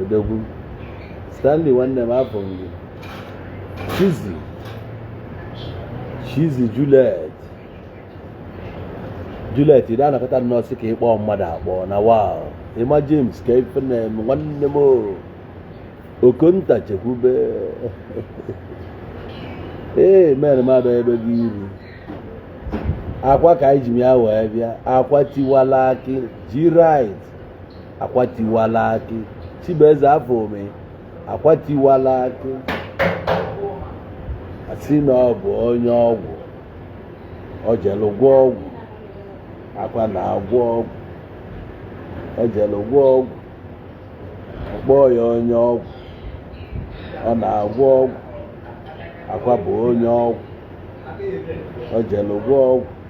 odogwu stanley nwanne m afụ m gị chizi chizi juliet juliet ị na-anọkọta nnọọ sị ka ị kpọọ mmadụ akpọ na wow emma james ka ife na-eme nwanne m okonta chekwube ee mere m abịa ebe gị iru akwa ka anyị ji m ya wee bịa akwa tiwala akị ji rit akwa tiwala akị chibueze afọ ome akwa tiwala akị a sị na ọ bụ onye ọgwụ o jelu gwọ ọgwụ akwa na-agwọ ọgwụ o jelu gwọ ọgwụ kpọọ ya onye ọgwụ ọ na-agwọ ọgwụ akwa bụ onye ọgwụ o jelu gwọ ọgwụ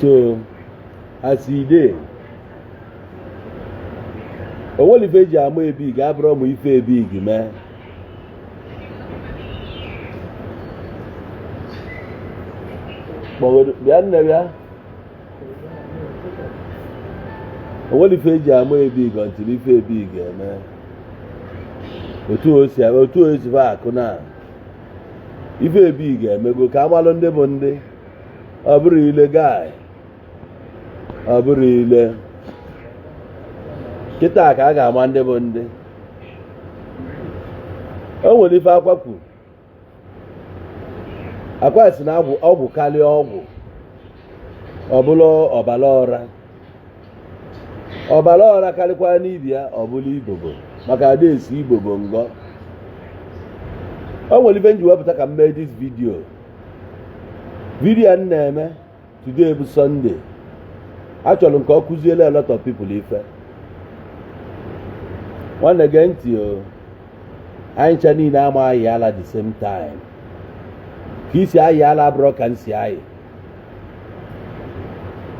so as e dey onwere ife eji ama big abụrọ mụ ife big mee bịa nne bịa onwere ife eji ama big until ife big mee otu o si fa akụ na ife big emego ka a malụ ndị bụ ndị ọ bụrụ ile guy ọ bụrụ ile kịta ka a ga-ama ndị bụ ndị o nwere ife akwa kwu akwa sị na ọgwụ karịa ọgwụ ọ bụrụ ọbara ọra ọbara ọra karịkwaa dibịa ọ bụrụ ibobo maka ada esi ibobo n'ọgwụ o nwere ife m ji wee pụta ka m mee this video video m na-eme today bụ Sunday achọrọ m ka o kuziele a lot of people ife nwanne gee ntị o anyị ncha niile ama ayị ala the same time ka i si ayị ala abụrọ ka m si ayị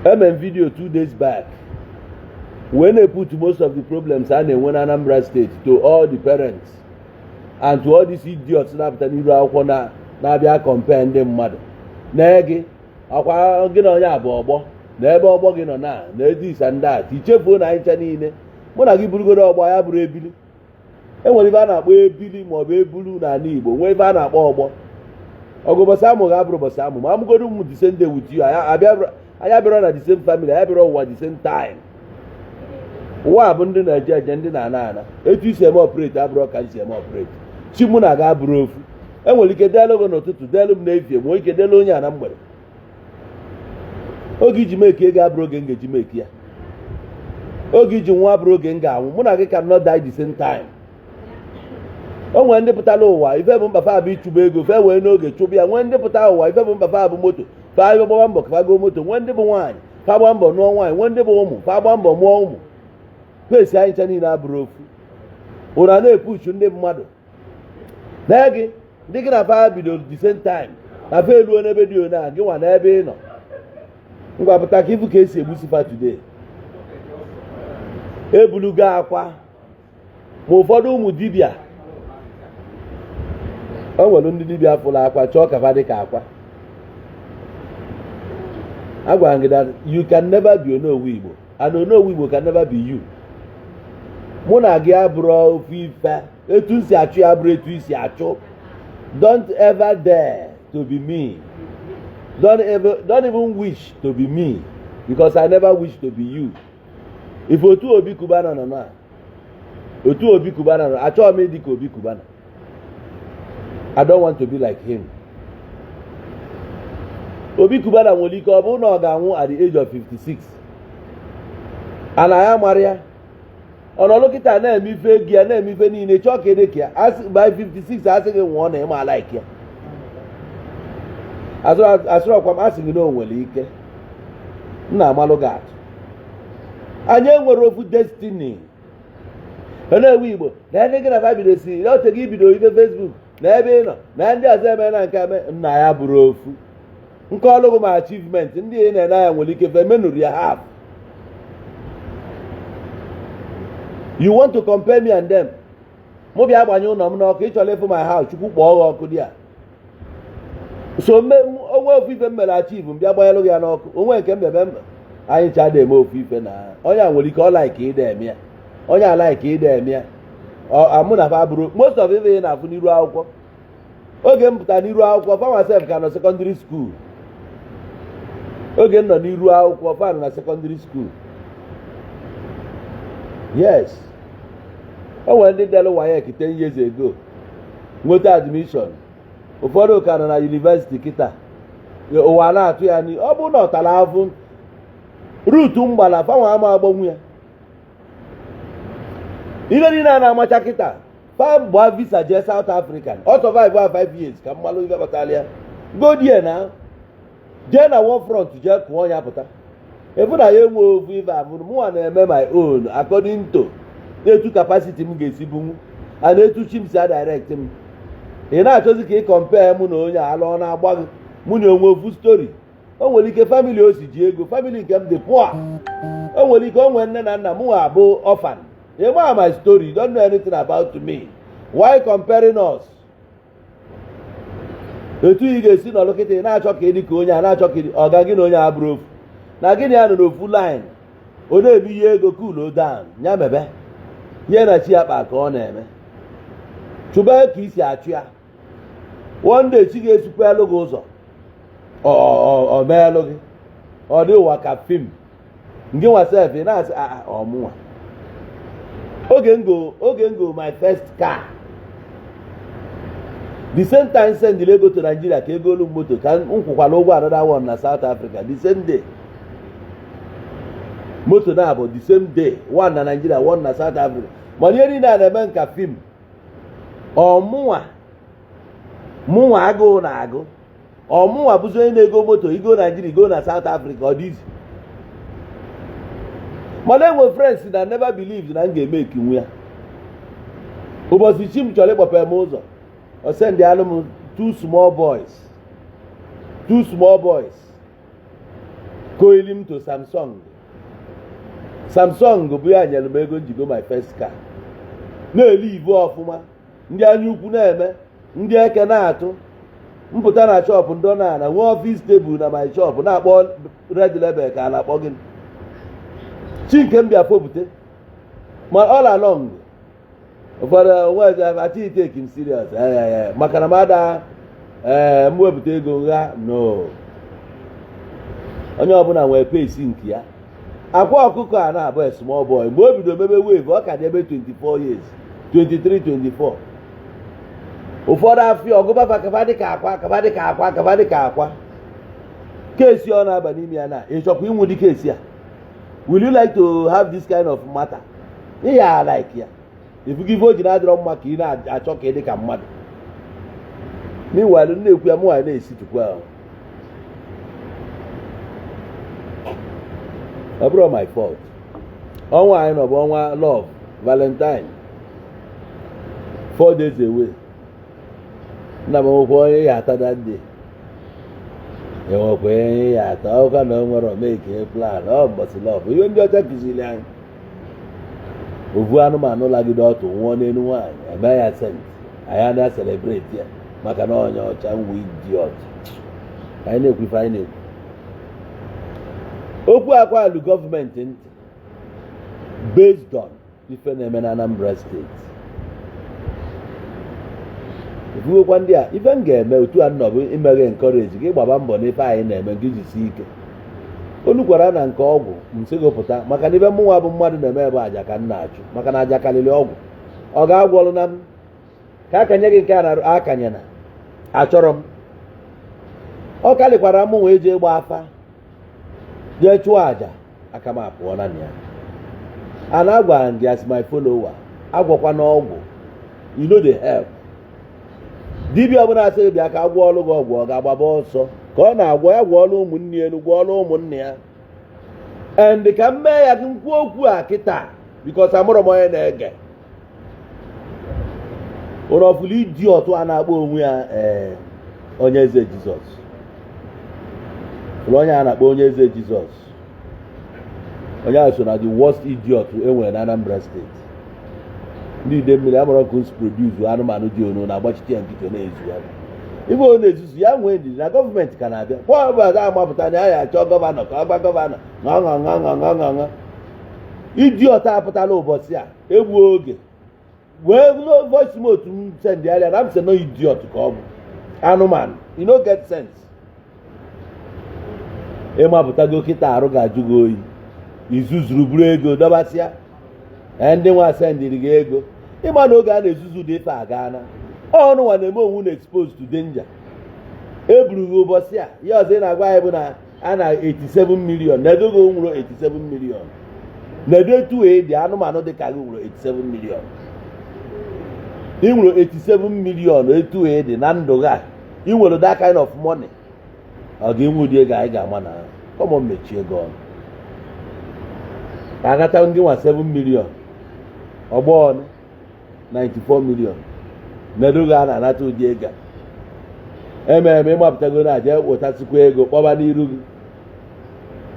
eme m video two days back wee na-put most of the problems a na-enwe na Anambra state to all the parents and to all these idiots na-apụta n'iru akwụkwọ na na-abịa compare ndị mmadụ na gị akwa gị na onye abụ ọgbọ na ebe ọgbọ gị nọ na na this and that i chefuo na anyị ncha niile mụ na gị bụrụgodo ọgbọ anyị abụrọ ebili enwere ife a na-akpọ ebili ma ọ bụ ebulu n'anị Igbo nwee ife a na-akpọ ọgbọ ọgụ ụbọsị a mụ gị abụrọ ụbọsị a mụ m a mụgodo m the same day with you anyị abịarọ na the same family anyị abịarọ ụwa the same time ụwa bụ ndị na-eje eje ndị na-ana ana etu esi m operate abụrọ ka i si operate chi mụ na gị abụrọ ofu enwere ike deelụ gị n'ụtụtụ deelụ m n'efie nwee ike deelụ onye a na mgbede oge iji meki ego abụrọ oge m ga-eji meki ya oge iji nwụọ abụrọ oge m ga-anwụ mụ na gị cannot die the same time o nwere ndị pụtara ụwa ife bụ mkpa fa bụ ịchụba ego fa ewee n'oge chụba ya nwee ndị pụta ụwa ife bụ mkpa fa bụ moto fa gbaba mbọ ka fa goo moto nwee ndị bụ nwaanyị fa gbaa mbọ nụọ nwaanyị nwee ndị bụ ụmụ fa gbaa mbọ mụọ ụmụ fesi anyị ncha niile abụrọ ofu unu na-epushu ndị mmadụ nee gị ndị gị na fa bidoro the same time na fa eruo n'ebe dị one a gị nwa nee ebe ị nọ ngwa pụta ka ị fụ ka esi egbusi fa today ebulugo akwa ma ụfọdụ ụmụ dibịa o nwere ndị dibịa fụrụ akwa chọọ ka fa dị ka akwa agwara m gị that you can never be onowu igbo and onowu igbo can never be you mụ na gị abụrọ ofu ife etu m si achụ ya abụrọ etu i si achụ don't ever dare to be me don't even wish to be me because i never wish to be you if otu obi cubana nọ na otu obi cubana nọ achọghị m ịdị ka obi cubana i don't want to be like him obi cubana nwere ike ọ bụrụ na ọ ga-anwụ at the age of 56 and ya amarọ ya ọ nọlụ kịta na-eme ife gị ana-eme ife niile chọọ ka ị dị ka ya by 56 asị gị nwụọ na ị ma like ya asịrọkwa m asị gị na o nwere ike m na-amalụ gị atụ anyị enwerọ ofu destiny onowu igbo na ndị gị na fa bido sị na o tego i bido ife facebook nee ebe ị nọ nee ndị ọzọ eme na nke eme nna ya abụrọ ofu m kọlụ gị my achievement ndị ị na-ene anya nwere ike fa emenụrọ ya half you want to compare me and them mụ bịa agbanye ụnọ m n'ọkụ ị chọlụ ịfụ my house chukwu kpọọ gị ọkụ there so o nwe ofu ife m mere achieve m bịa gbanyelụ gị ya n'ọkụ o nwe nke m mebe mba anyị ncha ada eme ofu ife na onye a nwere ike ọ like ịda eme ya onye a like ịda eme ya mụ na fa abụrọ most of ife ị na-afụ n'iru akwụkwọ oge m pụta n'iru akwụkwọ fa nwa sef ka nọ secondary school oge m nọ n'iru akwụkwọ fa nọ na secondary school yes o nwere ndị dere waec ten years ago nweta admission ụfọdụ ka nọ na university kịta ụwa na-atụ ya n'ihu ọ bụrụ na ọ tara afụ route m gbala fa nwa ama agbanwu ya ife niile a na-amacha kịta fa gbaa visa jee South African ọ survive 5 years ka m malụ ife kpatara ya go there na jee na war front jee kụọ ya pụta efu na ya enwe ovu ife abụrụ mụnwa na-eme my own according to etu capacity m ga-esi bunwu and etu chi m si adirect m ị na-achọzi ka ị compare mụ na onye a ala ọ na-agba gị mụ na o nwe ofu story o nwere ike family o si ji ego family nke m dị poor o nwere ike o nwee nne na nna mụnwa abụ orphan ị ma my story don't know anything about me why comparing us etu ị ga-esi nọlụ kịta ị na-achọ ka ị dị ka onye a na-achọ ka ọ ga gị na onye a bụrụ ofu na gị na ya nọ n'ofu line ọ na-eme ihe ego cool down ya mebe ihe na chi ya kpa ka ọ na-eme chụba ka i si achụ ya one day chi ga-esikwa elu gị ụzọ ọ meelụ gị ọ dị ụwa ka film ngịnwa sef ị na-asị ah, ah, ọ mụnwa oge m go my first car the same time send ego to Nigeria ka e goolu moto ka m kwụkwara ụgwọ another one na South Africa the same day moto naabọ the same day one na Nigeria one na South Africa mana ihe niile a na-eme m ka film ọ mụnwa mụnwa agụụ na-agụ ọ mụnwa bụzi onye na-ego moto igo Nigeria igo na South Africa ọ dị easy mana enwe friends na never believed na m ga-emakenwu ya ụbọchị chi m chọrọ ịkpọpe m ụzọ ọ sendịalụ m two small boys two small boys koili m to Samsung Samsung bụ ya nyelu m ego m ji go my first car na-ele ibu ọfụma ndị anya ukwu na-eme ndị eke na-atụ m pụta na shop ndị na ana nwee office table na my shop na-akpọ red label ka a na-akpọ gị chi nke m bịa fopụta m all along ụfọdụ onwezi achọ itake m serious maka na m ada ee m wepụta ego gha no onye ọbụla nwere pace nke ya Akwa Ọkụkọ a na-abụ small boy mgbe o bido mebe wave ọ ka dị ebe 24 years 23 24 ụfọdụ afụ ya ọ gụba va ka va dịka Akwa case ọ na-aba n'ime ya na ị chọkwa inwe ụdị case a will you like to have this kind of matter ị ya-alike ya i fugo ife o ji na-adịrọ mma ka ị na-achọ ka ị dị ka mmadụ meanwhile na-ekwu ya mụnwa na-esi tupu ahụ ọ bụrọ my fault ọnwa anyị nọ bụ ọnwa love valentine four days away nna m nwekwa onye ya ata that day enwekwa onye ya ata ọ ka nwerọ make plan ọ mbọsị love ihe ndị ọcha kụziri anyị ovu anụmanụ lagide ọtụ nwụọ n'elu nwaanyị emee ya saint anyị ana-celebrate ya maka na onye ọcha nwe idiot anyị na-ekwu ife anyị na-ekwu okwu akwa alụ gọọmenti ntị based on ife na-eme na Anambra steeti ebughekwa ndị a ife m ga-eme otu a nnọọ bụ ime gị encourage gị gbaba mbọ n'ife anyị na-eme gị jisi ike o lukwara na nke ọgwụ m sị gị pụta maka na ife mụnwa bụ mmadụ na-eme ebe aja ka m na-achụ maka na aja kalịlị ọgwụ ọ ga-agwọlụ na m ka akanye gị nke a na-arụ akanye na achọrọ m ọ kalịkwara mụ wee jee gba afa jee chụọ aja aka m apụọ na ya and agwara m gị as my follower agwọkwana ọgwụ you no dey help dibịa ọbụla sị gị bịa ka a gwọọlụ gị ọgwụ ọ ga-agbaba ọsọ ka ọ na-agwọ ya gwọọlụ ụmụnne ya gwọọlụ ụmụnna ya and ka m mee ya gị nkwu okwu a kịta because amarọ m onye na-ege ụlọ ọfụlụ idiot a na-akpọ onwe ya ee eh, onye eze jizọs ụlọ onye a na-akpọ onye eze jizọs onye ahụ so na the worst idiot e nwere na Anambra steeti ndị Idemili amarọ ka o si produce anụmanụ dị unu na-agbachite ya nkịtị na-ezu ya ebe ọ na-ezuzu ya nwee ndidi na gọọmenti ka na-abịa kwa ọbụla ga-amapụta na ya ya achọ gọvanọ ka ọ gwa gọvanọ ṅaṅaṅaṅaṅaṅa idiot apụtala ụbọchị a egbuo oge wee voice note sendịara na m sị no idiot ka ọ bụ anụmanụ you no get sense ị mapụtago kịta arụ ga-ajụ gị oyi i zuzuru buru ego dọbasịa ee ndị nwa sendiri gị ego ị ma na oge a na-ezuzu ụdị ife aga na unu nwa na-eme onwe unu expose to danger eburu gị ụbọchị a ihe ọzọ ị na-agwa anyị bụ na a na 87 million na ego gị nweru 87 million na ebe etu ị dị anụmanụ dị ka gị nweru 87 million ị nweru 87 million etu ị dị na ndụ gị a ị nwere that kind of money ọ ga-enwe ụdị ego anyị ga-ama na come on mechie gị ọnụ ka agata ndị nwa 7 million ọgbọ ọnụ 94 million nedoghị a na-anata ụdị ego a ememe ị mapụtago na-eje wetasịkwa ego kpọba n'iru gị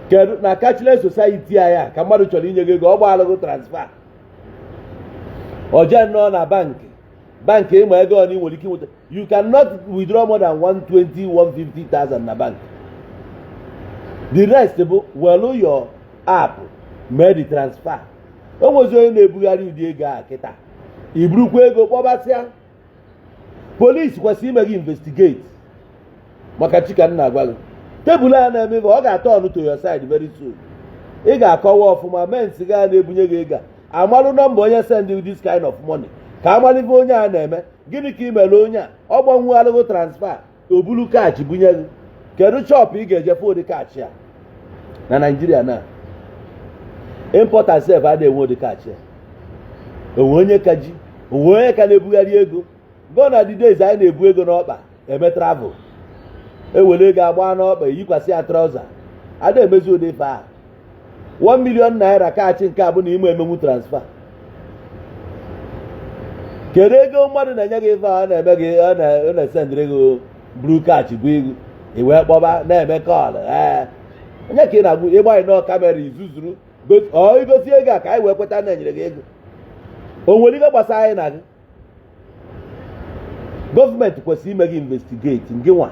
kedu na cashless society anyị a ka mmadụ chọrọ inye gị ego ọ gbaalụ gị transfer o jee nnọọ na bankị bankị ị ma ego one ị nwere ike nweta you cannot withdraw more than 120 150,000 na bank the rest bụ welu your app mee the transfer o nwezi onye na-ebugharị ụdị ego a kịta iburukwa ego kpọbasịa polisi kwesịrị ime gị investigate maka Chika m na-agwa gị tebụl a na-eme ọ ga-aturn to your side very soon ị ga-akọwa ọfụma mens ga na-ebunye gị ego a malụ nọmba onye send you this kind of money ka a malụ ife onye a na-eme gịnị ka i meere onye a ọ gbanwegharịgo transfer o buru cash bunye gị kedu shop ị ga-eji afford cash a na Naịjirịa na importer sef ada enwe ụdị cash a o nwe onye ka ji o nwe onye ka na-ebugharị ego gone are the days anyị na-ebu ego n'ọkpa eme travel ewere ego agbaa n'ọkpa eyikwasị ya trouser ada emezi ụdị ife a 1 million naira cash nke a bụ na ị ma emenwu transfer kedu ego mmadụ na-enye gị ife a na-eme gị ọ na-esendịrị gị buru cash bụ ego i wee kpọba na-eme call ee onye ka ị na-agwa ị gbanye nnọọ kamera i zuzuru igosi ego a ka anyị wee kweta na e nyere gị ego o nwere ife gbasara anyị na gị gọọmenti kwesịrị ime gị investigate ngị nwa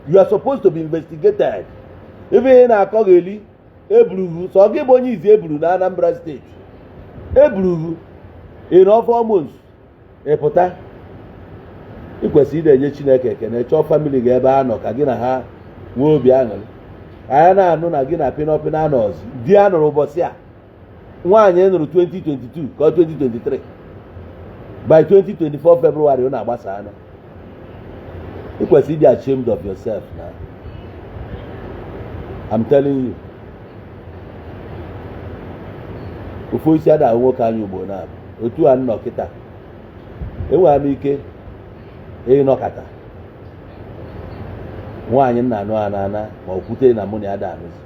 you are supposed to be investigated ife ị na-akọgheli e buru gị sọ gị bụ onye izizi e buru na Anambra steeti e buru gị in four months ị pụta ị kwesịrị ị na-enye Chineke ekene chọọ famili gị ebe ha nọ ka gị na ha nwee obi aṅụrị anyị na-anụ na gị na pinọpinọ anọzi di a nụrụ ụbọchị a nwaanyị ị nụrụ 2022 ka 2023 by 2024 February unu agbasaanụ ị kwesịrị ịdị ashamed of yourself na I'm telling you ofu osisi ada ahụ nwoke anya ugbo naabọ otu a m nọ kịta enwere m ike ịnọkata nwaanyị m na-anụ anaa a na ma okwute na mụ na ya ada anụzi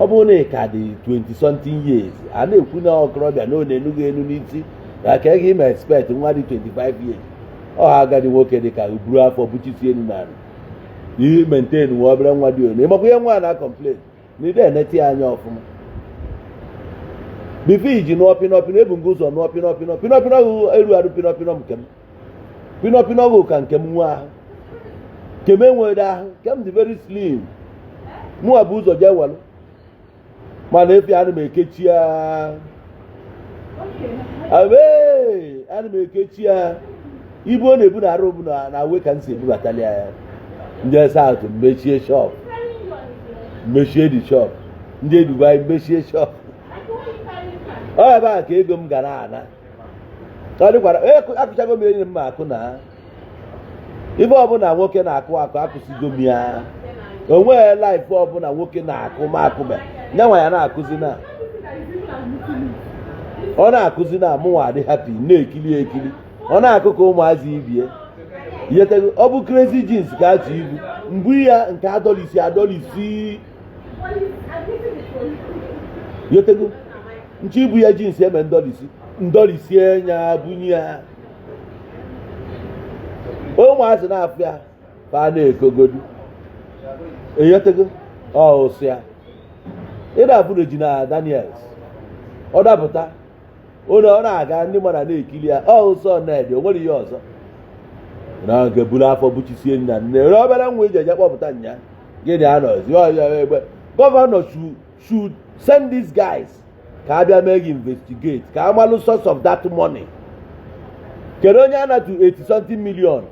ọ bụrụ na ị ka dị 20 something years a na-ekwu na okorobịa na ọ na-enu gị enu n'isi na ka ị ma expect nwa dị 25 years ọ ha agadi nwoke dị ka buru afọ buchisi enu na anụ ihe maintain nwa obere nwa dị onu ịmakwa ihe nwa na-complain na ị da enete ya anya ọfụma before i jee nụọ pinọpinọ ebu m gị ụzọ nụọ pinọpinọ pinọpinọ gị erurọ pinọpinọ nke m pinọpinọ gị ka nke m enwe ahụ nke m enweghị ahụ nke m dị very slim mụwa bu ụzọ jee welụ mana efi ana m ekechi ya awe ana m ekechi ya ibu ọ na-ebu na arụ bụ na awe ka m si ebubatali ya m jee South mechie shop mechie the shop m jee Dubai mechie shop ọ ebe a ka ego m ga na-ana ọ dịkwara onye akụchago m enyi m ma akụ na ife ọbụna nwoke na-akụ akụ akụsigo m ya o nweghị life ọbụna nwoke na-akụ ma akụbe nyanwa ya na-akụzi na ọ na-akụzi na mụnwa adị happy na-ekili ekili ọ na-akụ ka ụmụazị ibie yetego ọ bụ crazy jeans ka atụ ibu mgbu ya nke adọlisi adọlisi yetego nche ibu ya jeans eme ndọlisi ndọlisi enya bunye ya ụmụazị na-afụ ya ka a na-ekogodu enyetego ọsụ ya ịda abụ Regina Daniels ọ dapụta onye ọ na-aga ndị mmadụ na-ekili ya ọ ụsọ Ned o nwere ihe ọzọ na nke buru afọ buchisie nna nne obele nwa iji eje kpọpụta nya gịnị anọzi ọya egbe gọvanọ chu should send these guys ka a bịa mee gị investigate ka a malụ source of that money kedu onye a na-atụ 80 something million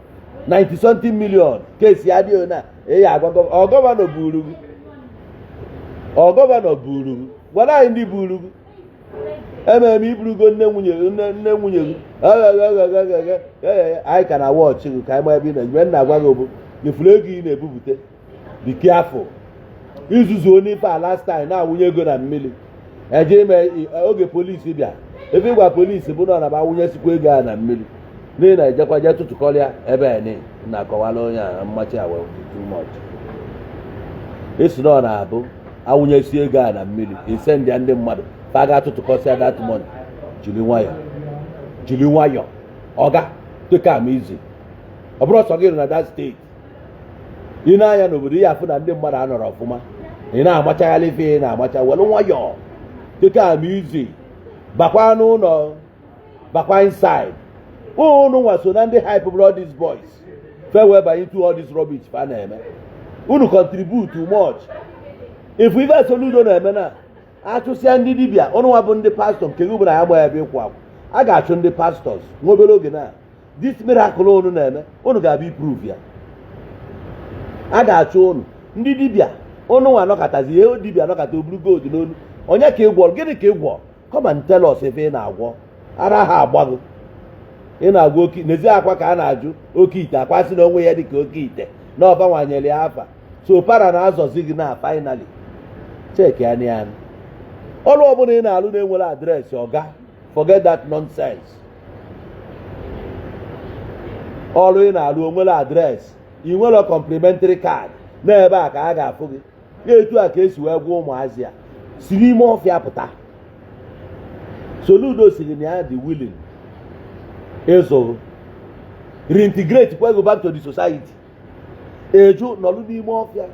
90 something million kesi adị na eyi agwa ọ gọvanọ buru gị ọ gọvanọ buru gị gwara anyị ndị buru gị ememe iburugo nne nwunye nne nwunye gị anyị ka na-watch gị ka anyị ma ebe ị na-eje ife m na-agwa gị bụ ị fụrụ ego ị na-ebupụta be careful izuzu onye ife a last time na-awụnye ego na mmili eje ime i- oge polisi bịa ife ị gwa polisi bụ na ọ na-abụ awụnyesikwa ego a na mmili n'ihi na ejekwa jee tụtụkọlịa ebe a ni na-akọwara onye a mmachi awa too much ị sị na ọ na-abụ awụnyesi ego a na mmili ị sị ndị ndị mmadụ fa ga-atụtụkọsịa that money jiri nwayọ jiri nwayọ oga take am easy ọ bụrọ sọ gị nọ na that state ị na-anya n'obodo ị ya-afụ na ndị mmadụ anọrọ ọfụma ị na-amachaghalị ife ị na-amacha welụ nwayọọ take am easy bakwa n'ụnọ bakwa inside unu nwa so na ndị hype brought all these boys fa wee banye into all this rubbish fa na-eme unu contribute too much ị fụ ife Soludo na-eme na achụsịa ndị dibịa unu nwa bụ ndị pastọ nke gị bụ na ya gba ya bụ ịkwụ akwụ a ga-achụ ndị pastors nwa obere oge na this miracle unu na-eme unu ga-abịa iprove ya a ga-achụ unu ndị dibịa unu nwa anọkọtazi ihe dibịa anọkọta o buru gold n'onu onye ka ị gwọrọ gịnị ka ị gwọrọ come and tell us ebe ị na-agwọ ara ha agbago ị na-agwọ oke n'ezi akwa ka a na-ajụ oke ite akwa sị na o nwe ihe dị ka oke ite na ọ fanwa nyere ya afa so para na-azọzi gị na finally checkie anya ọrụ ọbụla ị na-alụ na-enwerọ address ọga forget that nonsense ọrụ ị na-alụ o nwere address i nwere complimentary card n'ebe a ka a ga-afụ gị etu a ka e si wee gwa ụmụazị a si n'ime ọfịa pụta Soludo sị gị na ya dị willing ịzụ reintegrate kwa gị back to the society ị jụ nọlụ n'ime ọfịa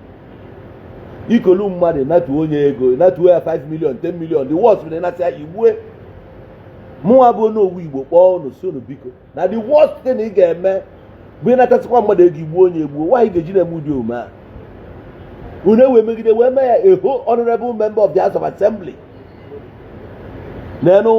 i kolu mmadụ natu onye ego natu ya 5 million 10 million the worst bụ na ị nata ya i gbue mụnwa bụ Onowu Igbo kpọọ unu sị unu biko na the worst thing ị ga-eme bụ ịnatasịkwa mmadụ ego i gbuo onye egbuo nwaanyị ga-eji na-eme ụdị omume a unu ewee megide wee mee ya eho honorable member of the house of assembly n'enu